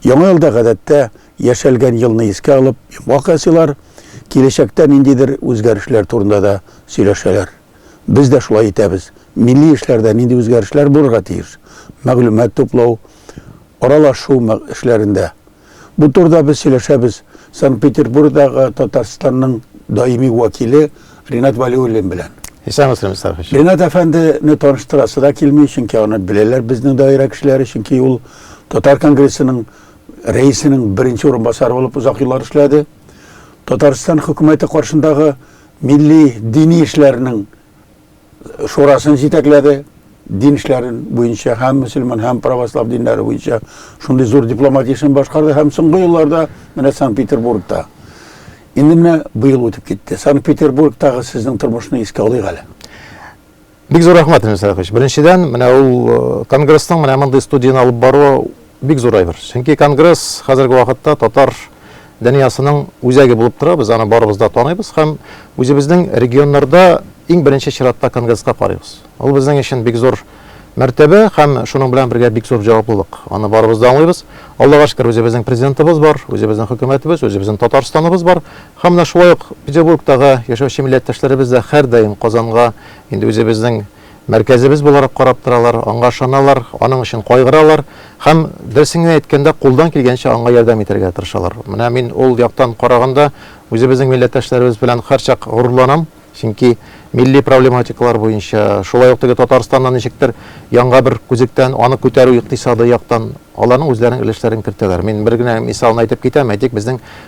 Яңа елда гадәттә яшәлгән елны искә алып, йомгак ясыйлар, киләчәктә ниндидер үзгәрешләр турында да сөйләшәләр. Без дә шулай итәбез. Милли эшләрдә нинди үзгәрешләр булырга тиеш? Мәгълүмат туплау, аралашу эшләрендә Бу турыда без сөйләшәбез Санкт-Петербургдагы Татарстанның даими вәкиле Ренат Валиуллин белән. Исәнмесез, Мистер Хәшим. Ренат әфәндене таныштырасы да килми, чөнки аны беләләр безнең даирә кешеләре, чөнки ул Татар конгрессының рәисенең беренче урынбасары булып озак еллар эшләде. Татарстан хөкүмәте каршындагы милли дини эшләрнең шурасын җитәкләде дин эшләрен буенча һәм мөселман һәм православ диннәре буенча шундый зур дипломатия эшен башкарды һәм соңгы елларда менә санкт петербургта инде менә быел үтеп китте санкт петербургтагы сезнең тормышны искә алыйк әле бик зур рәхмәт Ильмир Сәлахович. Беренчедән, менә ул э, конгресның менә мондый студияне алып баруы Бик зур әйбер. Чөнки конгресс хәзерге вакытта татар дөньясының үзәге булып тора. Без аны барыбыз да таныйбыз һәм үзебезнең регионнарда иң беренче чиратта конгресска карыйбыз. Ул безнең өчен бик зур мәртәбә һәм шуның белән бергә бик зур җаваплылык. Аны барыбыз да аңлыйбыз. Аллага шөкер, үзебезнең президентыбыз бар, үзебезнең хөкүмәтебез, үзебезнең Татарстаныбыз бар. Һәм менә шулай ук Петербургтагы яшәүче милләттәшләребез дә һәрдаим Казанга инде үзебезнең Мәркәзебез буларак карап торалар, аңа ышаналар, аның өчен кайгыралар һәм, дөресен генә әйткәндә, кулдан килгәнчә аңа ярдәм итәргә тырышалар. Менә мин ул яктан караганда, үзебезнең милләттәшләребез белән һәрчак горурланам, чөнки милли проблематикалар буенча, шулай ук теге Татарстаннан ничектер яңа бер күзектән, аны күтәрү икътисадый яктан аларның үзләренең өлешләрен кертәләр. Мин бер генә мисалны әйтеп китәм, әйтик, безнең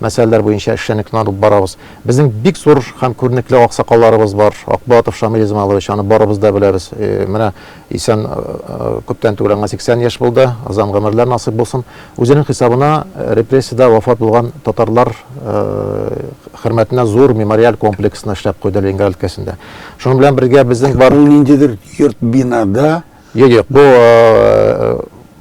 Мәсьәләләр буенча эшчәнлекне алып барабыз. Безнең бик зур һәм күренекле аксакалларыбыз бар. Акбулатов Шамил Измайлович, аны барыбыз да беләбез. Менә исән, күптән түгел аңа 80 яшь булды, озан гомерләр насыйп булсын. Үзенең хисабына репрессиядә вафат булган татарлар хөрмәтенә зур мемориаль комплексны эшләп куйды Ленинград өлкәсендә. Шуның белән бергә безнең бар. Ул ниндидер йорт-бинада Юк, юк, бу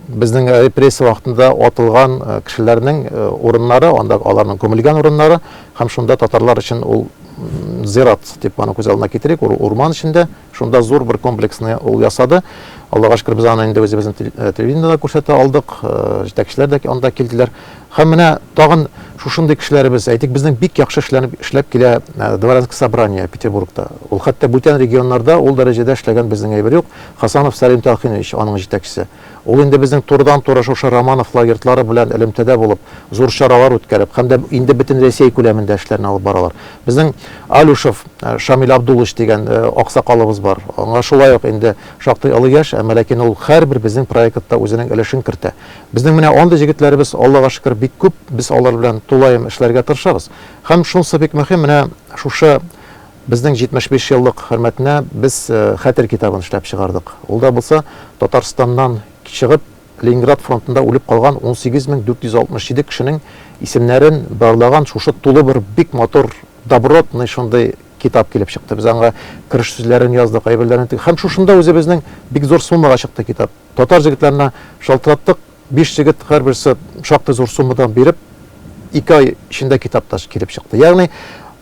безнең репрессия вакытында атылган кешеләрнең урыннары, анда аларның күмелгән урыннары һәм шунда татарлар өчен ул зират дип аны күз алдына китерик, урман эчендә, шунда зур бер комплексны ул ясады. Аллага шөкер, без аны инде үзебезнең телевидениедә күрсәтә алдык, җитәкчеләр дә анда килделәр. Һәм менә тагын шушындый кешеләребез, әйтик, безнең бик яхшы эшләнеп эшләп килә Дворянск собрание Петербургта. Ул хәтта бүтән регионнарда ул дәрәҗәдә эшләгән безнең әйбер юк. Хасанов Сәлим Тәлхинович, аның җитәкчесе. Ул инде безнең турыдан-туры шушы Романовлар йортлары белән элемтәдә булып, зур чаралар үткәреп, һәм дә инде Бөтенрәсәй күләмендә эшләрне алып баралар. Безнең Алюшев Шамил Абдуллович дигән аксакалыбыз бар. Аңа шулай ук инде шактый олы яшь, әмма ләкин ул һәрбер безнең проектта үзенең өлешен кертә. Безнең менә андый җегетләребез, Аллага шөкер, бик күп, без алар белән тулаем эшләргә тырышабыз. Һәм шунсы бик мөһим, менә шушы безнең 75 еллык хөрмәтенә без Хәтер китабын эшләп чыгардык. Ул да булса, Татарстаннан чыгып, Ленинград фронтында үлеп калган 18467 кешенең исемнәрен барлаган шушы тулы бер бик матур, добротный шундый китап килеп чыкты. Без аңа кереш сүзләрен яздык, әйберләрен тек. Һәм шушында үзебезнең бик зур суммага чыкты китап. Татар җегетләренә шалтыраттык, биш җегет һәрберсе шактый зур суммадан биреп, ике ай эчендә китап та килеп чыкты. Ягъни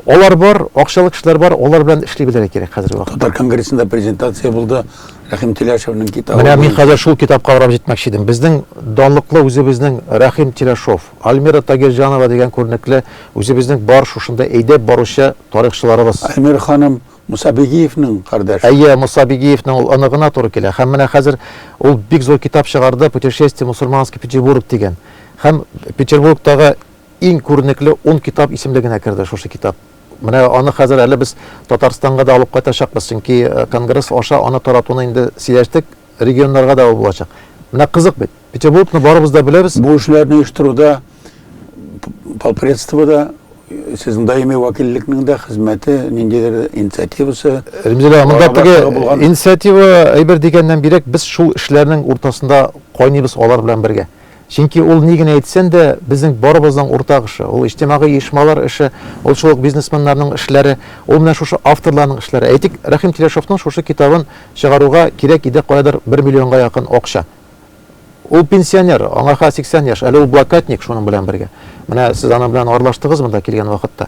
алар бар, акчалы кешеләр бар, алар белән эшли белергә кирәк хәзерге вакытта. Татар конгрессында презентация булды, Рәхим Тиләшевнең китабы. Менә мин хәзер шул китапка карап җитмәкче идем. Безнең данлыклы үзебезнең Рәхим Тиләшов, Альмира Тагирҗанова дигән күренекле үзебезнең бар шушында әйдәп баручы тарихчыларыбыз. Альмира ханым Муса Бигиевнең кардәше. Әйе, Муса Бигиевнең ул оныгына туры килә. Һәм менә хәзер ул бик зур китап чыгарды, Путешествие в мусульманский Петербург дигән. Һәм Петербургтагы иң күренекле ун китап исемлегенә керде шушы китап. Менә аны хәзер әле без Татарстанга да алып кайтачакбыз, чөнки конгресс аша аны таратуны инде сөйләштек. регионнарга да ул булачак. Менә кызык бит. Петербургны барыбыз да беләбез. Бу эшләрне оештыруда полпредство да сезнең даими вәкиллекнең дә хезмәте, ниндидер инициативасы. Римзилә, монда теге инициатива әйбер дигәннән бирәк, без шул эшләрнең уртасында кайныбыз алар белән бергә. Чөнки ул ни генә әйтсен дә, безнең барыбызның уртак эше. Ул иҗтимагый оешмалар эше, ул шул ук бизнесменнарның эшләре, ул менә шушы авторларның эшләре. Әйтик, Рәхим Телешовның шушы китабын чыгаруга кирәк иде каядыр бер миллионга якын акча. Ул пенсионер, аңа хәзер 80 яшь, әле ул блокадник шуның белән бергә. Менә сез аның белән аралаштыгыз монда килгән вакытта.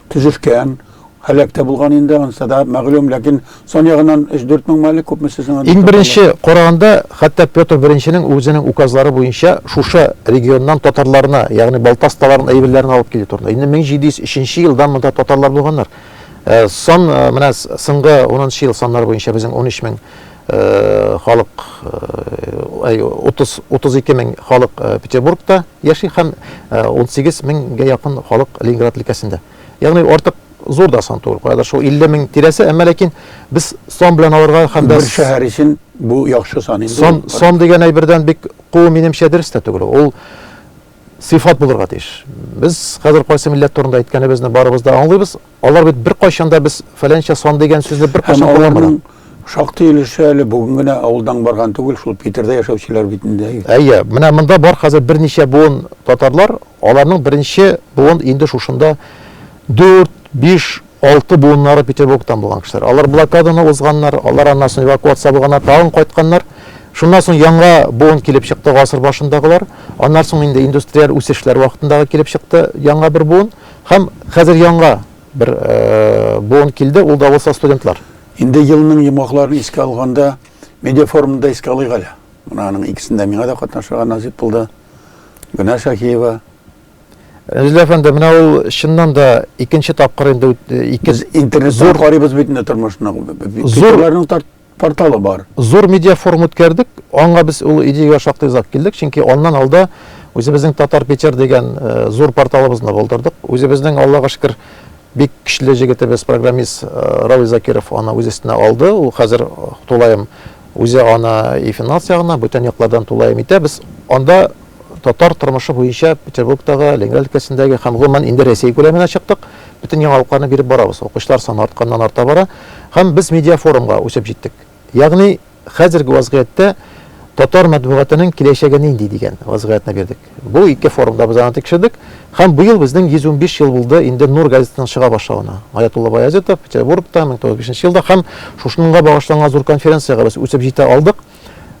Төзелгән, һәлак тә булган инде, ансы да мәгълүм, ләкин сан ягыннан өч-дүрт меңме әле, күпме сез аны Иң беренче караганда, хәтта Петр Беренченең үзенең указлары буенча шушы регионнан татарларны, ягъни Балтасталарның әйберләрен алып килү турында. Инде 1703 елдан монда татарлар булганнар. Сан, менә соңгы унынчы ел саннары буенча безнең унөч мең халык 32 мең халык Петербургта яши һәм 18 меңгә якын халык Ленинград өлкәсендә. Ягъни артык зур да сан түгел. Каядыр шул 50 мең тирәсе, әмма ләкин без сан белән алырга һәм дә бер шәһәр өчен бу яхшы сан инде. Сан, сан дигән әйбердән бик куу минемчә дөрес тә түгел. Ул сыйфат булырга тиеш. Без хәзер кайсы милләт турында әйткәнебезне барыбыз да аңлыйбыз. Алар бит беркайчан да без фәләнчә сан дигән сүзне беркайчан Һәм аларның шактый өлеше әле бүген генә авылдан барган түгел, шул Питерда яшәүчеләр бит инде. Әйе, менә монда бар хәзер берничә буын татарлар, аларның беренче буын инде шушында 4, 5, 6 буыннары Петербургтан булган кешеләр. Алар блокаданы узганнар, алар аннан соң эвакуация булганнар, тагын кайтканнар. Шуннан соң яңа буын килеп чыкты гасыр башындагылар. Аннан соң инде индустриаль үсешләр вакытындагы килеп чыкты яңа бер буын. Һәм хәзер янга бер буын килде, ул да булса студентлар. Инде елның йомгакларын искә алганда, медиафорумны да искә алыйк әле. Менә аның икесендә миңа да катнашырга насыйп булды. Гөлнар Шаһиева, Рәзил әфәнде, менә ул чыннан да икенче тапкыр инде ике интернет зур карыйбыз бит инде тормышны. Зурларның Порталы бар. Зур медиафорум үткәрдек. Аңа без ул идеягә шактый озак килдек, чөнки аннан алда үзебезнең Татар Питер дигән э, зур порталыбызны булдырдык. Үзебезнең, Аллага шөкер, бик көчле җегетебез, программист э, Равил Закиров аны үз өстенә алды. Ул хәзер тулаем үзе аны и финанс ягына, бүтән яклардан тулаем итә. Без анда татар тормышы буенча Петербургтагы, Ленинград өлкәсендәге һәм гомумән инде Рәсәй күләменә чыктык. Бөтен яңалыкларны биреп барабыз, укучылар саны артканнан-арта бара һәм без медиафорумга үсеп җиттек. Ягъни, хәзерге вазгыятьтә татар матбугатының киләчәге нинди дигән вазгыятьне бирдек. Бу ике форумда без аны тикшердек һәм быел безнең 115 ел булды инде Нур газетасының чыга башлавына. Аятулла Баязитов, Петербургта, 1905 нче елда һәм шушыныңга багышланган зур конференциягә без үсеп җитә алдык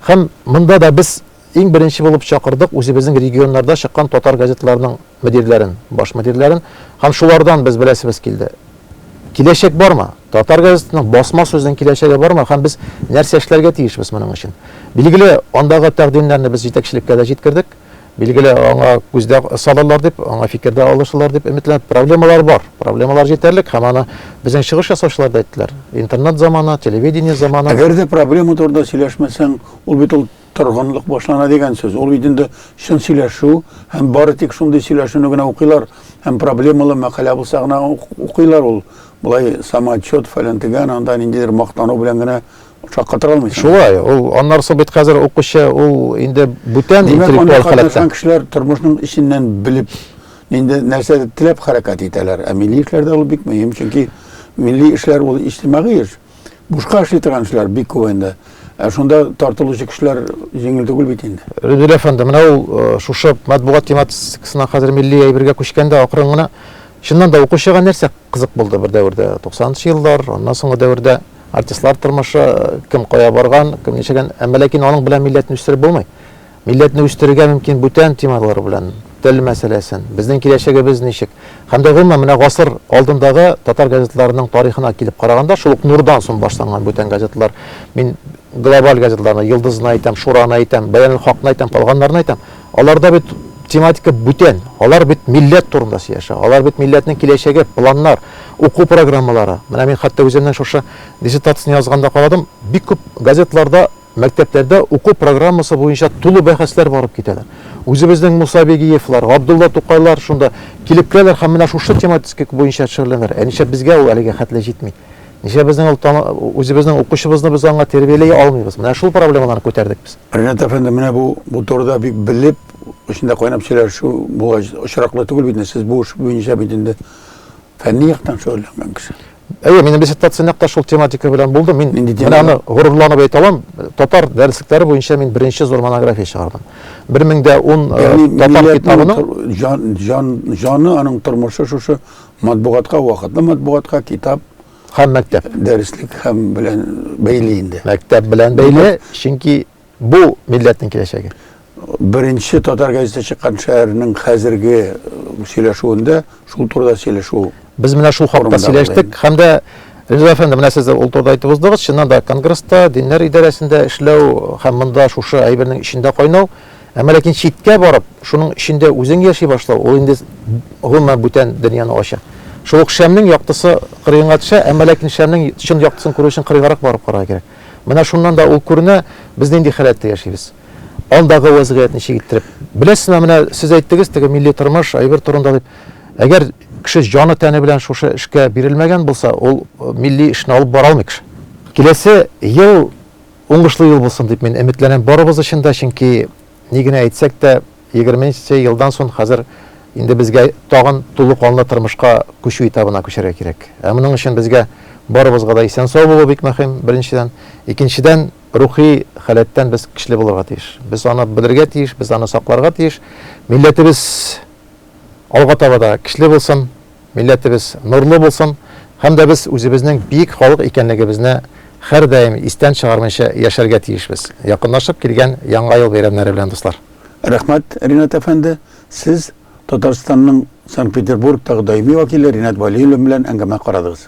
һәм монда да без иң беренче булып чакырдык үзебезнең регионнарда чыккан татар газеталарының мөдирләрен, баш мөдирләрен, һәм шулардан без беләсебез килде. Киләчәк бармы? Татар газетының басма сүзнең киләчәге бармы? Һәм без нәрсә эшләргә тиешбез моның өчен? Билгеле, андагы тәкъдимнәрне без җитәкчелеккә дә җиткердек. Билгеле, аңа күздә салырлар дип, аңа фикердә алышылар дип өметләнеп, проблемалар бар. Проблемалар җитәрлек һәм аны безнең чыгыш ясаучылар да әйттеләр. Интернет заманы, телевидение заманы. Әгәр дә проблема турында сөйләшмәсәң, ул бит ул Торгынлык башлана дигән сүз. Ул бит инде чын сөйләшү һәм бары тик шундый сөйләшүне генә укыйлар һәм проблемалы мәкалә булса гына укыйлар ул. Болай самоотчет, фәлән тегән, анда ниндидер мактану белән генә шаккатыра алмыйсың. Шулай, ул аннары соң бит хәзер укучы ул инде бүтән интеллектуаль халәттә. Кешеләр тормышның эченнән белеп, инде нәрсәдер теләп хәрәкәт итәләр. Ә милли эшләрдә ул бик мөһим, чөнки милли эшләр ул иҗтимагый эш. Бушка эшли торган эшләр бик күп инде. Ә шунда тартылучы кешеләр җиңел түгел бит инде. Рөдил әфәнде, менә ул э, шушы матбугат тематикасына хәзер милли әйбергә күчкәндә акрын гына чыннан да укучыга нәрсә кызык булды бер дәвердә? 90-нчы еллар, аннан соңгы дәвердә артистлар тормышы, э, кем кая барган, кем ничәгән, әмма ләкин аның белән милләтне үстереп булмый. Милләтне үстерергә мөмкин бүтән темалар белән, тел мәсьәләсен, безнең киләчәгебез ничек, һәм дә гомумән, менә гасыр алдындагы татар газеталарының тарихына килеп караганда, шул ук Нурдан соң башланган бүтән газеталар, мин глобаль газеталарны, Йолдызны әйтәм, Шураны әйтәм, Бәянел-хакны әйтәм, калганнарны әйтәм, аларда бит тематика бүтән, алар бит милләт турында сөйләшә, алар бит милләтнең киләчәге, планнар, уку программалары. Менә мин хәтта үземнең шушы диссертацияне язганда карадым, бик күп газеталарда, Мәктәпләрдә уку программасы буенча тулы бәхәсләр барып китәләр. Үзебезнең Муса Бигиевлар, Габдулла Тукайлар шунда килеп керәләр һәм менә шушы тематика буенча шөгыльләнәләр. Ә нишләп безгә ул әлегә хәтле җитми? Нишләп безнең ул тама, үзебезнең укучыбызны без аңа тәрбияли алмыйбыз? Менә шул проблемаларны күтәрдек без. Ринат әфәнде, менә бу, бу турыда бик белеп, эчендә кайнап сөйләшү бу очраклы түгел бит инде. Сез бу эш буенча бит инде фәнни яктан шөгыльләнгән кеше. Әйе, минем диссертация нәкъ тә шул тематика белән булды. Мин менә аны горурланып әйтә алам, татар дәреслекләре буенча мин беренче зур монография чыгардым. 1010 э, татар китабының җан, җан, җаны аның тормышы шушы матбугатка, вакытлы матбугатка, китап һәм мәктәп дәреслек һәм белән бәйле инде. Мәктәп белән бәйле, чөнки Бу милләтнең киләчәге. Беренче татар газеты чыккан шәһәрнең хәзерге сөйләшүендә шул турыда сөйләшү. Без менә шул хакта сөйләштек һәм дә Риза әфәнде, менә сез дә ул турыда әйтеп уздыгыз. Чыннан да конгресста, диннәр идарәсендә эшләү һәм монда шушы әйбернең эчендә кайнау, әмма ләкин читкә барып, шуның эчендә үзең яши башлау, ул инде гомумән бүтән дөньяны ача. Шул ук шәмнең яктысы кырыенга төшә, әмма ләкин шәмнең чын яктысын күрү өчен кырыенгарак барып карарга кирәк. Менә шуннан да ул күренә, без нинди халәттә яшибез. Алдагы вәзгыять ничек иттереп. Беләсезме, менә сез әйттегез, теге милли тормыш, әйбер турында дип. Әгәр кеше җаны-тәне белән шушы эшкә бирелмәгән булса, ул милли эшне алып бара алмый кеше. Киләсе ел уңышлы ел булсын дип мин өметләнәм барыбыз өчен дә, чөнки ни генә әйтсәк тә, Егерменче елдан сон хәзер инде безгә тагын тулы канлы тырмышка күчү этабына күчәргә кирәк. Ә моның өчен безгә барыбызга да исән-сау булу бик мөһим, беренчедән. Икенчедән, рухи халәттән без көчле булырга тиеш. Без аны белергә тиеш, без аны сакларга тиеш. Милләтебез алга таба да көчле булсын, милләтебез нурлы булсын һәм дә без үзебезнең биек халык икәнлегебезне хәрдаим истән чыгармыйча яшәргә тиешбез. Якынлашып килгән Яңа ел бәйрәмнәре белән, дуслар! Рәхмәт, Ринат әфәнде. Сез Татарстанның Санкт-Петербургтагы даими вәкиле Ринат Вәлиуллин белән әңгәмә карадыгыз.